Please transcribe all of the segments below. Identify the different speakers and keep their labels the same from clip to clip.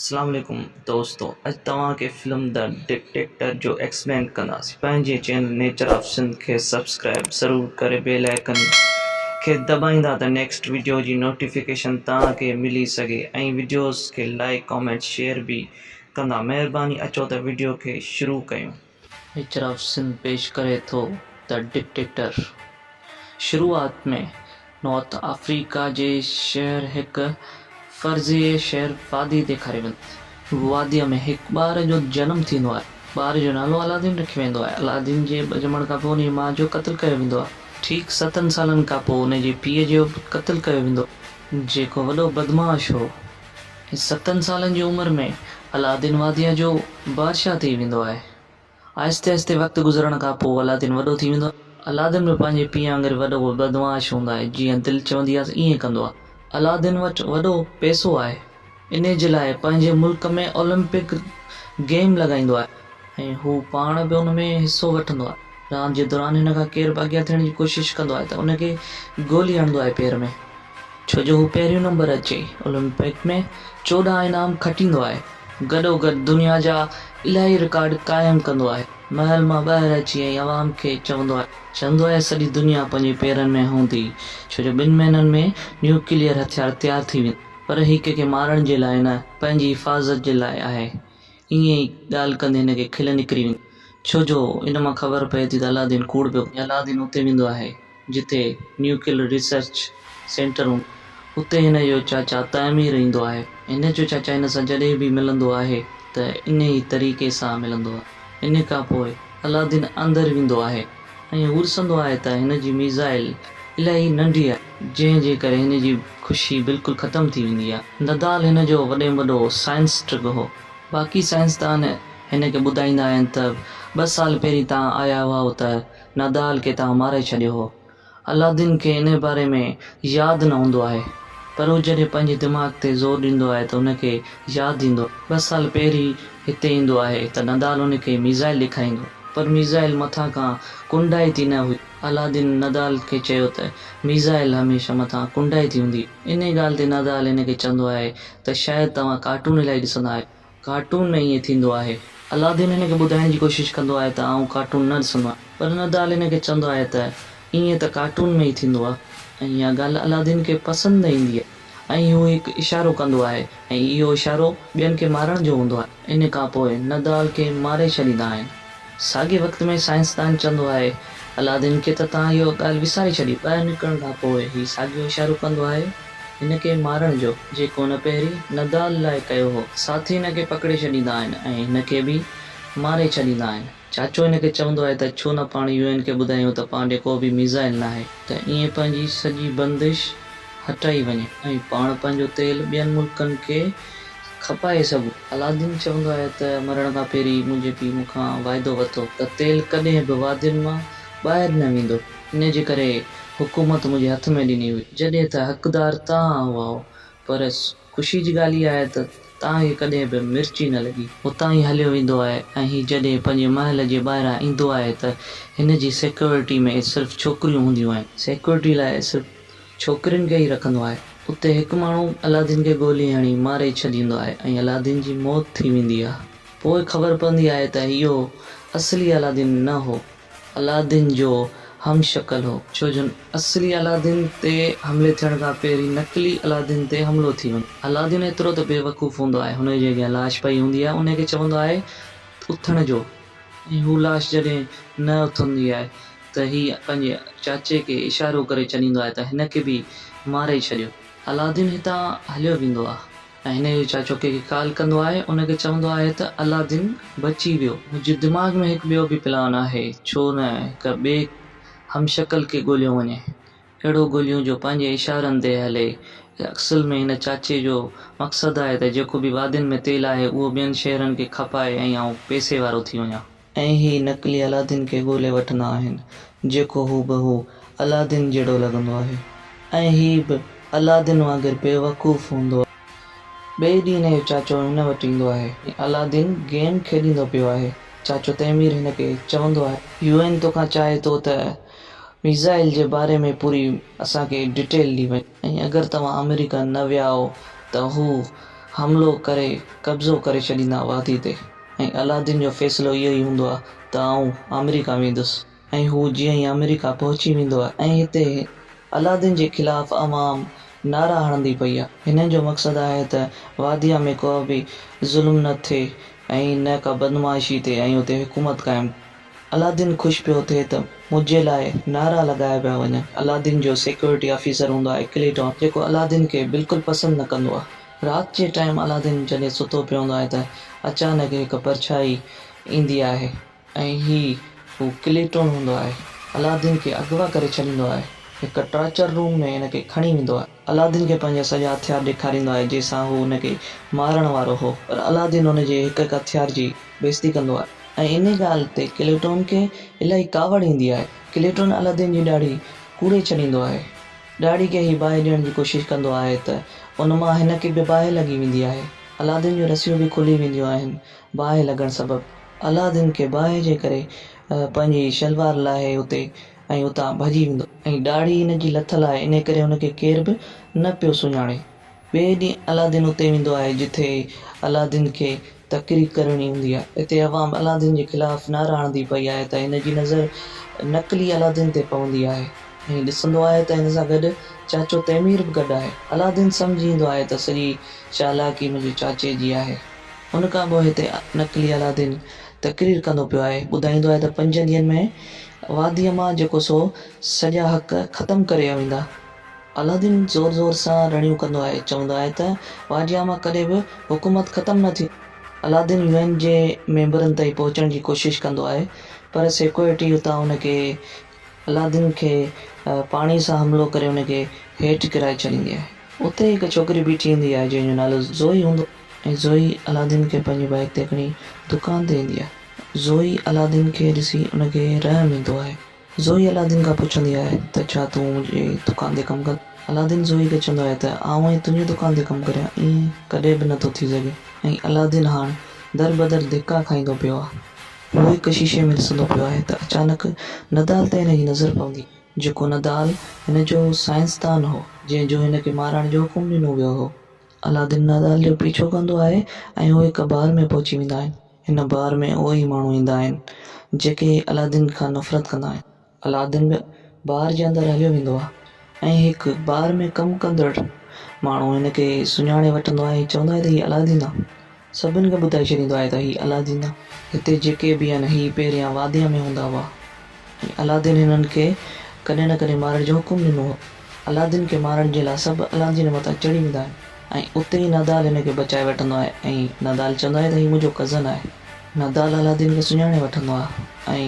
Speaker 1: اسلام عليڪم دوستو اڄ توهان کي فلم دي ڊڪٽيٽر جو ايڪسپلين ڪنداسين پنهنجي چينل نيچر آف سنڌ کي سبسڪرائب ضرور ڪري بيل آئيڪن کي دٻائيندا ته نيڪسٽ وڊيو جي نوٽيفڪيشن توهان کي ملي سگهي ۽ وڊيوز کي لائڪ ڪامينٽ شيئر به ڪندا مهرباني اچو ته وڊيو کي شروع ڪيون اعتراف سنڌ پيش ڪري ٿو ته ڊڪٽيٽر شروعات ۾ نارٿ آفريڪا جي شهر هڪ فرضيه شهر فادي ڏيکاري ويندو آهي. واديء ۾ هڪ ٻار جو جنم ٿيندو آهي. ٻار جو نالو علادين رکيو ويندو آهي. علادين جي ڄمڻ کان پوء ان جي ماء جو قتل ڪيو ويندو آهي. ٺيڪ ستن سالن کان پوء ان جي پيء جو به قتل ڪيو ويندو آهي. جيڪو وڏو بدمعاش هو. ستن سالن جي عمر ۾ علادين واديء جو بادشاهه ٿي ويندو آهي. آهستي آهستي وقت گذرڻ کان پوء علادين وڏو ٿي ويندو آهي. علادين به پنهنجي پيء وانگر وڏو بدمعاش هوندو آهي، جيئن دل چوندي آهي ائين ڪندو آهي. علادين وٽ وڏو پئسو آهي، انهيء جي لاء پنهنجي ملڪ ۾ اولمپڪ گيم لڳائيندو آهي. ۽ هو پاڻ به ان ۾ حصو وٺندو آهي راند جي دوران هن کان ڪير به اڳيان ٿيڻ جي ڪوشش ڪندو آهي ته ان کي گولي هڻندو آهي پير ۾ ڇو جو هو پهريون نمبر اچي اولمپڪ ۾ چوڏهن انعام کٽيندو آهي گڏو گڏ دنيا جا الاهي رڪارڊ قائم ڪندو آهي محل مان ٻاهر اچي ۽ عوام کي چوندو آهي چوندو آهي سڄي دنيا پنهنجي پيرن ۾ هوندي ڇو جو ٻن مهينن ۾ نيوڪليئر هٿيار تيار ٿي ويندا پر هي ڪنهن کي مارڻ جي لاء نه پنهنجي حفاظت جي لاء آهي. ائين ئي ڳالهه ڪندي هن کي کل نڪري ويندي آهي، ڇو جو ان مان خبر پئي ٿي ته علادين ڪوڙ پيو ڪري. علادين اتي ويندو آهي، جتي نيوڪليئر ريسرچ سينٽر هوندو آهي. اتي هن جو چاچا تعمير ايندو آهي. هن جو چاچا هن سان جڏهن به ملندو آهي ته انهي طريقي سان ملندو آهي. ان کان پوء علادين اندر ويندو آهي. ائين ورسندو آهي ته هن جي ميزائل الاهي ننڍي آهي، جنهن جي ڪري هن جي خوشي بلڪل ختم ٿي ويندي آهي. ندال هن جو وڏي ۾ وڏو سائنس ٽرڪ هو. باقي سائنسدان هن کي ٻڌائيندا آهن ته ٻه سال پهرين تان آيا هئائو ته ندال کي توهان مارئي ڇڏيو هو. الادين کي انهيء باري ۾ ياد نه هوندو آهي، پر هو جڏهن پنهنجي دماغ تي زور ڏيندو آهي ته هن کي ياد ايندو آهي. ٻه سال پهرين هتي ايندو آهي ته ندال هن کي ميزائل ڏيکاريندو، پر ميزائل مٿان کان ڪنڊائي ٿي نه هئي. الادين ندال کي چيو ته ميزائل هميشه مٿان ڪنڊائي ٿي هوندي آهي. انهيء ڳالهه تي ندال هن کي چوندو آهي ته شايد توهان ڪارٽون الائي ڏسندا آهيو. ڪارٽون ۾ ائين ٿيندو آهي. الادين هن کي ٻڌائڻ جي ڪوشش ڪندو آهي ته آئون ڪارٽون نه ڏسندو آهيان. پر ندال هن کي چوندو آهي ته ائين ته ڪارٽون ۾ ئي ٿيندو آهي ۽ اها ڳالهه الادين کي پسند نه ايندي آهي ۽ هو هڪ اشارو ڪندو آهي ۽ اهو اشارو ٻين کي مارڻ جو هوندو آهي. ان کان پوء ندال کي ماري ڇڏيندا آهن. ساڳئي وقت ۾ سائنسدان چوندو آهي، الادين کي ته تان اهو ڳالهه وساري ڇڏي. ٻاهر نڪرڻ کان پوء هي ساڳيو اشارو ڪندو آهي هن کي مارڻ جو، جيڪو هن پهرين نڌال لاء ڪيو هو. ساٿي هن کي پڪڙي ڇڏيندا آهن ۽ هن کي به ماري ڇڏيندا آهن. چاچو هن کي چوندو آهي ته ڇو نه پاڻ يو اين کي ٻڌايون ته پاڻ ڏي ڪو به ميزائل ناهي ته ائين پنهنجي سڄي بندش هٽائي وڃي ۽ پاڻ پنهنجو تيل ٻين ملڪن کي کپائي سگهون. علادين چوندو آهي ته مرڻ کان پهرين منهنجي پيء مون کان واعدو ورتو ته تيل ڪڏهن به وادين مان ٻاهر نه ويندو. ان جي ڪري حڪومت منهنجي هٿ ۾ ڏني هئي. جڏهن ته حقدار توهان هئائو پر. خوشيء جي ڳالهه اها آهي ته تان هي ڪڏهن به مرچي نه لڳي. هتان ئي هليو ويندو آهي ۽ هي جڏهن پنهنجي محل جي ٻاهران ايندو آهي ته هن جي سيڪيورٽي ۾ صرف ڇوڪريون هونديون آهن. سيڪيورٽي لاء صرف ڇوڪرين کي ئي رکندو آهي. اتي هڪ ماڻهو علادين کي گولي هڻي ماري ڇڏيندو آهي ۽ علادين جي موت ٿي ويندي آهي. پوء خبر پوندي آهي ته اهو اصلي علادين نه هو. علادين جو هم شڪل هو. ڇو جو اصلي علادين تي حملي ٿيڻ کان پهرين نقلي علادين تي حملو ٿي وڃي. علادين ايترو ته بيوقوف هوندو آهي، هن جي اڳيان لاش پئي هوندي آهي، انهي کي چوندو آهي ته اٿڻ جو ۽ هو لاش جڏهن نه اٿندي آهي ته هي پنهنجي چاچي کي اشارو ڪري چنيندو آهي ته هن کي به ماري ڇڏيو. علادين هتان هليو ويندو آهي. ۽ هن جو چاچو ڪنهن کي ڪال ڪندو آهي ان کي چوندو آهي ته علادين بچي ويو. منهنجي دماغ ۾ هڪ ٻيو به پلان آهي ڇو نه هڪ ٻئي هم شڪل کي ڳوليو وڃي. اهڙو ڳوليون جو پنهنجي اشارن تي هلي. اصل ۾ هن چاچي جو مقصد آهي ته جيڪو به وادين ۾ تيل آهي اهو ٻين شهرن کي کپائي ۽ آئون پئسي وارو ٿي وڃان. ۽ هي نقلي الادين کي ڳولي وٺندا آهن جيڪو هو بهو الادين جهڙو لڳندو آهي ۽ هي به الادين وانگر بيوقوف هوندو آهي. ٻئي ڏينهن هن جو چاچو هن وٽ ايندو آهي ۽ الادين گيم کيڏيندو پيو آهي. چاچو تيمير هن کي چوندو آهي. يو اين توکان چاهي ٿو ته ميزائل جي باري ۾ پوري اسان کي ڊيٽيل ڏي وڃ. ۽ اگر توهان آمريڪا نه ويائو ته هو حملو ڪري قبضو ڪري ڇڏيندا وادي تي ۽ علادين جو فيصلو اهو ئي هوندو آهي ته آئون آمريڪا ويندس ۽ هو جيئن ئي آمريڪا پهچي ويندو آهي. ۽ هتي علادين جي خلاف عوام نعرا هڻندي پئي آهي. هنن جو مقصد آهي ته واديء ۾ ڪو به ظلم نه ٿئي ۽ نه ڪا بدمعاشي ٿئي ۽ اتي حڪومت قائم الادين خوش پيو ٿئي ته منهنجي لاء نعرا لڳايا پيا وڃن. الادين جو سيڪيورٽي آفيسر هوندو آهي ڪليٽون، جيڪو الادين کي بلڪل پسند نه ڪندو آهي. رات جي ٽائيم الادين جڏهن ستو پيو هوندو آهي ته اچانڪ هڪ پرڇائي ايندي آهي ۽ هي هو ڪليٽون هوندو آهي. الادين کي اغوا ڪري ڇڏيندو آهي. هڪ ٽارچر روم ۾ هن کي کڻي ويندو آهي. علاؤالدين کي پنهنجا سڄا هٿيار ڏيکاريندو آهي جنهن سان هو ان کي مارڻ وارو هو پر علاؤالدين ان جي هڪ هڪ هٿيار جي بيزتي ڪندو آهي ۽ انهي ڳالهه تي ڪليٽون کي الاهي ڪاوڙ ايندي آهي ڪليٽون علاؤالدين جي ڏاڙهي ڪوڙي ڇڏيندو آهي ڏاڙهي کي هي باهه ڏيڻ جي ڪوشش ڪندو آهي ته ان مان هن کي به باهه لڳي ويندي آهي علاؤالدين جون رسيون به کلي وينديون آهن باهه لڳڻ سبب علاؤالدين کي باهه جي ڪري پنهنجي شلوار لاهي اتي ۽ اتان ڀڄي ويندو. ۽ ڏاڙهي هن جي لٿل آهي، انهي ڪري هن کي ڪير به نه پيو سڃاڻي. ٻئي ڏينهن علادين اتي ويندو آهي، جتي علادين کي تقرير ڪرڻي هوندي آهي. اتي عوام علادين جي خلاف نعرا هڻندي پئي آهي ته هن جي نظر نقلي علادين تي پوندي آهي ۽ ڏسندو آهي ته هن سان گڏ چاچو تيمير به گڏ آهي. علادين سمجهي ويندو آهي ته سڄي چالاڪي منهنجي چاچي جي آهي. ان کان پوء هتي نقلي علادين تقرير ڪندو پيو آهي، ٻڌائيندو آهي ته پنجن ڏينهن ۾ واديء مان جيڪو سو سڄا حق ختم ڪري ويندا. الادين زور زور سان رڙيون ڪندو آهي چوندو آهي ته واديء مان ڪڏهن به حڪومت ختم نه ٿيندي. الادين يو اين جي ميمبرن تائين پهچڻ جي ڪوشش ڪندو آهي پر سيڪيورٽي اتان ان کي الادين کي پاڻي سان حملو ڪري ان کي هيٺ ڪرائي ڇڏيندي آهي. اتي ئي هڪ ڇوڪري بيٺي هوندي آهي جنهن جو نالو زوئي هوندو آهي. ۽ زوئي علادين کي پنهنجي بائيڪ تي کڻي دڪان تي ايندي آهي. زوئي علادين کي ڏسي ان کي رحم ايندو آهي. زوئي علادين کان پڇندي آهي ته ڇا تون منهنجي دڪان تي ڪم ڪندين؟ علادين زوئي کي چوندو آهي ته آئون ائين تنهنجي دڪان تي ڪم ڪريان ائين ڪڏهن به نٿو ٿي سگهي ۽ علادين هاڻ دربدر ڌڪا کائيندو پيو آهي. هو هڪ شيشي ۾ ڏسندو پيو آهي ته اچانڪ ندال تي هن جي نظر پوندي آهي. جيڪو ندال هن جو سائنسدان هو جنهن جو هن کي مارڻ جو حڪم ڏنو ويو هو. عالادين نادال جو پيڇو ڪندو آهي ۽ اهي هڪ بار ۾ پهچي ويندا آهن. هن بار ۾ اهي ئي ماڻهو ايندا آهن جيڪي عالادين کان نفرت ڪندا آهن. عالادين به بار جي اندر هليو ويندو آهي ۽ هڪ بار ۾ ڪم ڪندڙ ماڻهو هن کي سڃاڻي وٺندو آهي ۽ چوندو آهي ته هي عالادين آهي. سڀن کي ٻڌائي ڇڏيندو آهي ته هي الادين جا هتي جيڪي به آهن هي پهريان واديء ۾ هوندا هئا ۽ الادين هنن کي ڪڏهن نه ڪڏهن مارڻ جو حڪم ڏنو هو. الادين کي مارڻ جي لاء سڀ الادين مٿان چڙهي ويندا آهن ۽ اتي ئي نادال هن کي بچائي وٺندو آهي ۽ نادال چوندو آهي ته هي منهنجو ڪزن آهي. نادال الادين کي سڃاڻي وٺندو آهي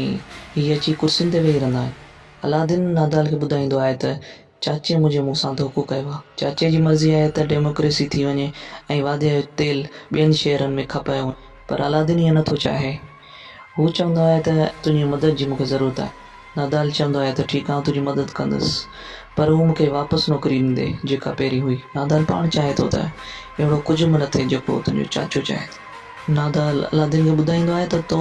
Speaker 1: ۽ هي اچي ڪرسين تي ويهي رهندا آهن. الادين نادال کي ٻڌائيندو آهي ته چاچي منهنجي مون سان ڌوڪو ڪيو آهي. چاچي جي مرضي آهي ته ڊيموڪريسي ٿي وڃي ۽ واڌيء جو تيل ٻين شهرن ۾ کپايو وڃي. پر علادين ائين نه ٿو چاهي. هو چوندو آهي ته تنهنجي مدد جي مون کي ضرورت آهي. نادال چوندو آهي ته ٺيڪ آئون تنهنجي مدد ڪندس پر هو مون کي واپس نوڪري ڏيندي جيڪا پهرين هئي. نادال پاڻ چاهي ٿو ته اهڙو ڪجهه به نه ٿئي جيڪو تنهنجو چاچو چاهي ٿو. نادال علادين کي ٻڌائيندو آهي ته تو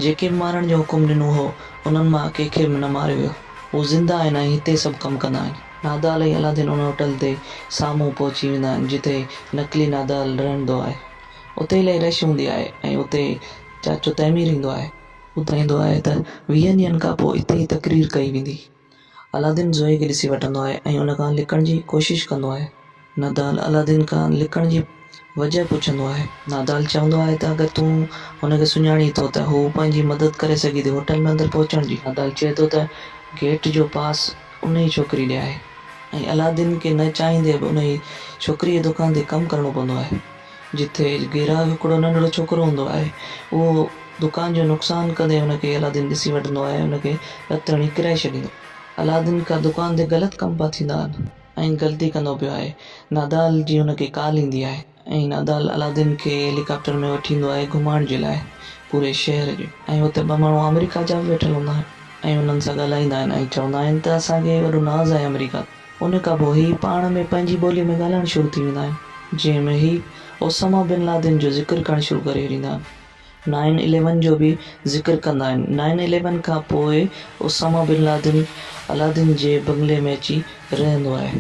Speaker 1: جيڪي به مارڻ جو حڪم ڏنو هو انهن مان ڪنهن کي به نه ماريو ويو. هو زنده آهن ۽ هتي سڀ ڪم ڪندا آهن. نادال ۽ الادين ان هوٽل تي سامهون پهچي ويندا آهن جتي نقلي نادال رهندو آهي. اتي الائي رش هوندي آهي ۽ اتي چاچو تيمير ايندو آهي. ٻڌائيندو آهي ته ويهن ڏينهن کان پوء اتي ئي تقرير ڪئي ويندي. الادين زوئي کي ڏسي وٺندو آهي ۽ ان کان لڪڻ جي ڪوشش ڪندو آهي. نادال عالادين کان لڪڻ جي وجهه پڇندو آهي. نادال چوندو آهي ته اگر تون هن کي سڃاڻين ٿو ته هو پنهنجي مدد ڪري سگهي ٿي هوٽل ۾ اندر پهچڻ جي. نادال چئي ٿو ته گيٽ جو پاس انهي ڇوڪري ڏي آهي ۽ عالادين کي نه چاهيندي به انهي ڇوڪري جي دڪان تي ڪم ڪرڻو پوندو آهي. جتي گيراڪ هڪڙو ننڍڙو ڇوڪرو هوندو آهي. اهو دڪان جو نقصان ڪندي هن کي عالادين ڏسي وٺندو آهي ۽ هن کي رت هڻي ڪرائي ڇڏيندو آهي. عالادين کان دڪان تي غلط ڪم پيا ٿيندا آهن. ۽ غلطي ڪندو پيو آهي. نادال جي هن کي ڪال ايندي آهي ۽ نادال علادين کي هيليڪاپٽر ۾ وٺي ايندو آهي گهمائڻ جي لاء پوري شهر جي ۽ اتي ٻه ماڻهو آمريڪا جا به ويٺل هوندا آهن ۽ انهن سان ڳالهائيندا آهن ۽ چوندا آهن ته اسان کي وڏو ناز آهي آمريڪا تي ان کان پوء هي پاڻ ۾ پنهنجي ٻولي ۾ ڳالهائڻ شروع ٿي ويندا آهن جنهن ۾ هي اسامه بن لادن جو ذڪر ڪرڻ شروع ڪري ڇڏيندا آهن. نائن اليون جو به ذڪر ڪندا آهن. نائن اليون کان پوء اسامه بن لادن علادين جي بنگلي ۾ اچي رهندو آهي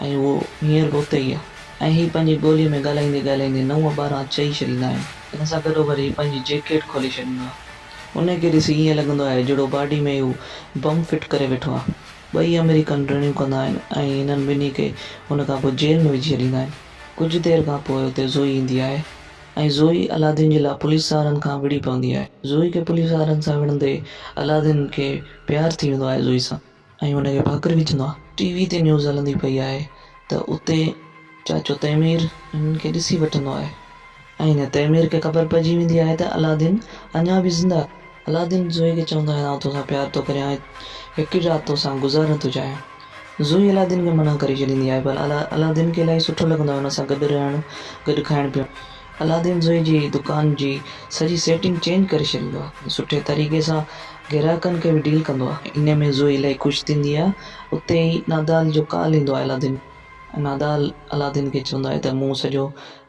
Speaker 1: ۽ هو هينئر به اتي ئي آهي ۽ هي پنهنجي ٻوليء ۾ ڳالهائيندي ڳالهائيندي نو ٻارهن چئي ڇڏيندا آهن. ان سان گڏوگڏ هي پنهنجي جيڪيٽ کولي ڇڏيندو آهي. انهيء کي ڏسي ائين لڳندو آهي جهڙو باڊي ۾ ئي هو بم فٽ ڪري ويٺو آهي. ٻئي آمريڪن رڙيون ڪندا آهن ۽ هنن ٻنهي کي ان کان پوء جيل ۾ وجهي ڇڏيندا آهن. ڪجهه دير کان پوء اتي زوئي ايندي آهي. ۽ زوئي الادين جي لاء پوليس وارن کان وڙهي پوندي آهي. زوئي کي پوليس وارن سان وڙهندي الادين کي پيار ٿي ويندو آهي زوئي سان ۽ هن کي ڀاڪر وجهندو آهي. ٽي وي تي نيوز هلندي پئي آهي ته اتي چاچو تيمير هنن کي ڏسي وٺندو آهي ۽ تيمير کي خبر پئجي ويندي آهي ته الادين اڃا به زنده آهي. علادين زوئي کي چوندو آهي ته آئون توسان پيار ٿو ڪريان ۽ هڪ ئي رات توسان گذارڻ ٿو چاهيان. زوئي علادين کي منع ڪري ڇڏيندي آهي پر علادين کي الائي سٺو لڳندو آهي ان سان گڏ رهڻ، گڏ کائڻ پيئڻ. علادين زوئي جي دڪان جي سڄي سيٽنگ چينج ڪري ڇڏيندو آهي ۽ سٺي طريقي سان گهراڪن کي به ڊيل ڪندو آهي. انهيء ۾ زوئي الائي خوش ٿيندي آهي. اتي ئي نادال جو ڪال ايندو آهي علادين کي ۽ نادال علادين کي چوندو آهي ته مون سڄو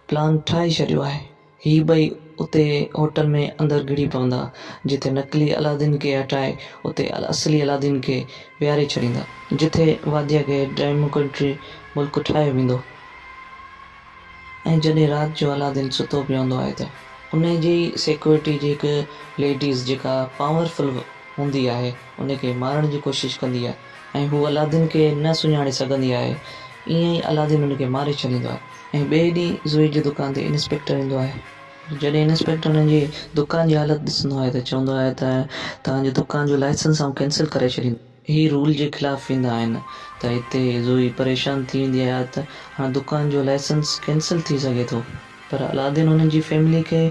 Speaker 1: پلان ٺاهي ڇڏيو آهي. هي ٻئي اتي هوٽل ۾ اندر گهڙي پوندا، جتي نقلي الادين کي هٽائي اتي اصلي الادين کي ويهاري ڇڏيندا. جتي واديء کي ڊيموڪريٽري ملڪ ٺاهيو ويندو ۽ جڏهن رات جو الادين ستو پيو هوندو آهي ته انهيء جي ئي سيڪيورٽي جي هڪ ليڊيز جيڪا پاورفل هوندي آهي، ان کي مارڻ جي ڪوشش ڪندي آهي ۽ هو الادين کي نه سڃاڻي سگهندي آهي. ائين ئي الادين ان کي ماري ڇڏيندو آهي ۽ ٻئي ڏينهن زوئي جي دڪان تي انسپيڪٽر ايندو آهي. جڏهن انسپيڪٽر هن جي دڪان جي حالت ڏسندو آهي ته چوندو آهي ته توهان جي دڪان جو لائسنس آئون ڪينسل ڪري ڇڏيندس. هي رول جي خلاف ويندا آهن ته هتي زوئي پريشان ٿي ويندي آهي ته هاڻ دڪان جو لائسنس ڪينسل ٿي سگهي ٿو. پر علادين هنن جي فيملي کي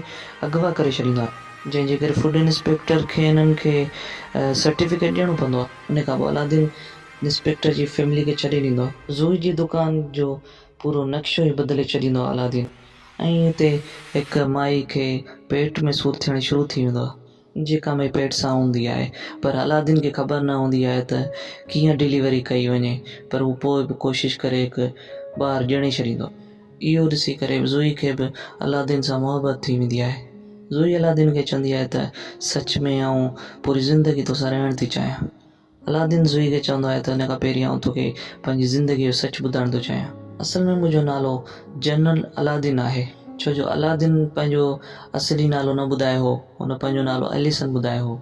Speaker 1: اغوا ڪري ڇڏيندو آهي، جنهن جي ڪري فوڊ انسپيڪٽر کي هنن کي سرٽيفڪيٽ ڏيڻو پوندو آهي. ان کان پوء علادين انسپيڪٽر جي فيملي کي ڇڏي ڏيندو آهي. زوئي جي دڪان جو پورو نقشو ئي بدلي ڇڏيندو آهي علادين ۽ اتي هڪ مائي کي پيٽ ۾ سور ٿيڻ شروع ٿي ويندو آهي. جيڪا مئي پيٽ سان هوندي آهي پر علادين کي خبر نه هوندي آهي ته ڪيئن ڊليوري ڪئي وڃي پر هو پوء به ڪوشش ڪري هڪ ٻار ڄڻي ڇڏيندو آهي. اهو ڏسي ڪري زوئي کي به علادين سان محبت ٿي ويندي آهي. زوئي علادين کي چوندي آهي ته سچ ۾ آئون پوري زندگي توسان رهڻ ٿي چاهيان. الادين سوئي کي چوندو آهي ته ان کان پهرين آئون توکي پنهنجي زندگيء جو سچ ٻڌائڻ ٿو چاهيان. اصل ۾ منهنجو نالو جنرل الادين آهي. ڇو جو الادين پنهنجو اصلي نالو نه ٻڌايو هو. هن پنهنجو نالو اليسن ٻڌايو هو.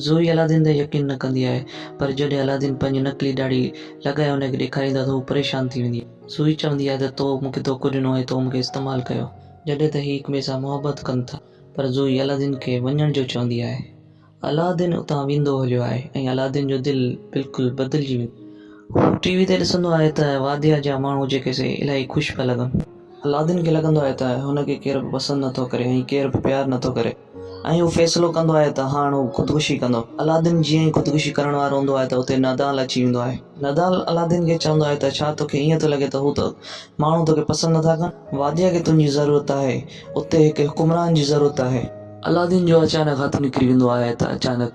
Speaker 1: سوئي الادين تي يقين نه ڪندي آهي پر جڏهن الادين پنهنجي نقلي ڏاڙهي لڳائي هن کي ڏيکاريندو آهي ته هوء پريشان ٿي ويندي آهي. سوئي چوندي آهي ته تو مون کي ڌوڪو ڏنو ۽ تو مون کي استعمال ڪيو. جڏهن ته هي هڪٻئي سان محبت ڪن ٿا پر سوئي الادين کي وڃڻ جو چوندي آهي. الادين اتان ويندو هليو آهي ۽ الادين جو دل بلڪل بدلجي ويندو آهي. هو ٽي وي تي ڏسندو آهي ته واديا جا ماڻهو جيڪي سي الائي خوش پيا لڳن. الادين کي لڳندو آهي ته هن کي ڪير به پسند نٿو ڪري ۽ ڪير به پيار نٿو ڪري ۽ هو فيصلو ڪندو آهي ته هاڻ هو خودڪشي ڪندو. الادين جيئن ئي خودڪشي ڪرڻ وارو هوندو آهي ته اتي نادال اچي ويندو آهي. نادال الادين کي چوندو آهي ته ڇا توکي ائين ٿو لڳي ته هو ماڻهو توکي پسند نٿا ڪن. واديا کي تنهنجي ضرورت آهي. اتي هڪ حڪمران جي ضرورت آهي. علادين جو اچانڪ هٿ نڪري ويندو آهي ته اچانڪ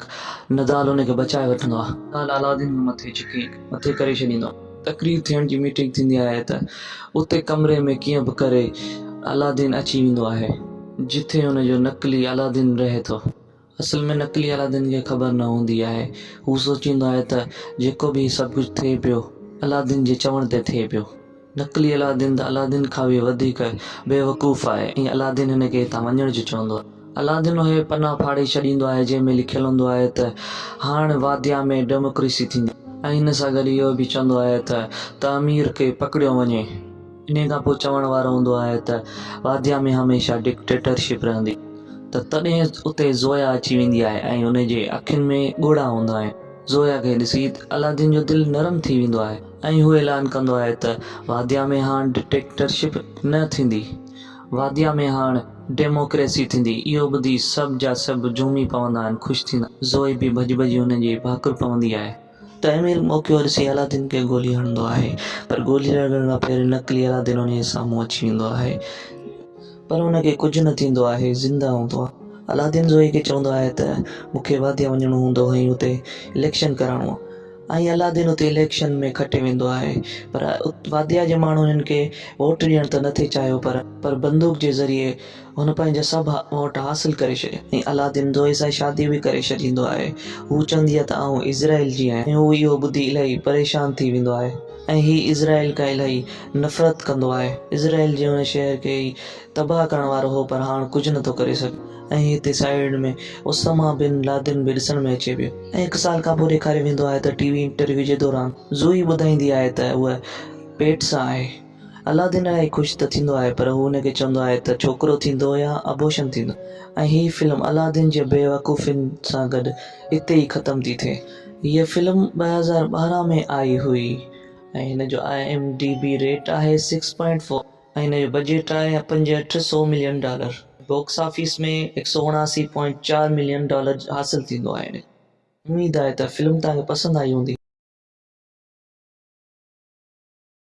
Speaker 1: نضال ان کي بچائي وٺندو آهي. نضال علادين کي مٿي چڪي مٿي ڪري ڇڏيندو آهي. تقرير ٿيڻ جي ميٽنگ ٿيندي آهي ته اتي ڪمري ۾ ڪيئن به ڪري علادين اچي ويندو آهي. جتي ان جو نقلي علادين رهي ٿو. اصل ۾ نقلي علادين کي خبر نه هوندي آهي. هو سوچيندو آهي ته جيڪو به هي سڀ ڪجهه ٿئي پيو علادين جي چوڻ تي ٿئي پيو. نقلي علادين ته علادين کان به وڌيڪ بيوقوف آهي ۽ علادين هن کي هتان وڃڻ جو چوندو آهي. علادين اهي پنا ڦاڙي ڇڏيندو آهي جنهن ۾ لکيل هوندو آهي ته هاڻ واديا ۾ ڊيموڪريسي ٿيندي ۽ ان سان گڏ اهو به چوندو آهي ته تعمير کي پڪڙيو وڃي. انهي کان پوء چوڻ وارو هوندو آهي ته واديا ۾ هميشه ڊڪٽيٽرشپ رهندي. ته تڏهن اتي زويا اچي ويندي آهي ۽ ان جي اکين ۾ ڳوڙها هوندا آهن. زويا کي ڏسي علادين جو دل نرم ٿي ويندو آهي. ۽ هو اعلان ڪندو آهي ته واديا ۾ هاڻ ڊڪٽيٽرشپ نه ٿيندي، واديا ۾ هاڻ ڊيموڪريسي ٿيندي. اهو ٻڌي سڀ جا سڀ جهومي پوندا آهن، خوش ٿيندا آهن. زوئي به ڀڄي ڀڄي هن جي ڀاڪر پوندي آهي. تنهن مهل موقعو ڏسي علادين کي گولي هڻندو آهي، پر گولي لڳڻ کان پهرين نقلي علادين ان جي سامهون اچي ويندو آهي، پر ان کي ڪجهه نه ٿيندو آهي، زنده هوندو آهي. علادين زوئي کي چوندو آهي ته مون کي واديا وڃڻو هوندو ۽ اتي اليڪشن ڪرائڻو آهي. ائين علادين اتي اليڪشن ۾ کٽي ويندو آهي پر واديا جي ماڻهن هن کي ووٽ ڏيڻ ته نٿي چاهيو پر پر بندوق جي ذريعي هن پنهنجا سڀ ووٽ حاصل ڪري ڇڏيا ۽ علادين زوئي سان شادي به ڪري ڇڏيندو آهي هو چوندي آهي ته آئون اسرائيل جي آهيان ۽ هو اهو ٻڌي الائي پريشان ٿي ويندو آهي ۽ هي اسرائيل کان الائي نفرت ڪندو آهي اسرائيل جي ان شهر کي ئي تباهه ڪرڻ وارو هو پر هاڻ ڪجهه نه ٿو ڪري سگهي ۽ هتي سائيڊ ۾ اسامه بن لادن به ڏسڻ ۾ اچي پيو ۽ هڪ سال کان پوء ڏيکاريو ويندو آهي ته ٽي وي انٽرويو جي دوران زوئي ٻڌائيندي آهي ته هوء پيٽ سان آهي الادين الائي خوش ته ٿيندو آهي پر هو هن کي چوندو آهي ته ڇوڪرو ٿيندو يا ابوشن ٿيندو ۽ هي فلم الادين جي بيوقوفين سان گڏ اتي ئي ختم ٿي ٿئي. هيء فلم ٻه هزار ٻارهن ۾ آئي هئي ۽ هن جو I M D B rate آهي سڪس پوائنٽ فور. ۽ هن جو بجيٽ آهي پنجهٺ سؤ ملين ڊالر، باڪس آفيس ۾ هڪ سؤ اڻاسي پوائنٽ چار ملين ڊالر حاصل ٿيندو آهي هن کي. اميد آهي ته فلم توهان کي پسند آئي هوندي.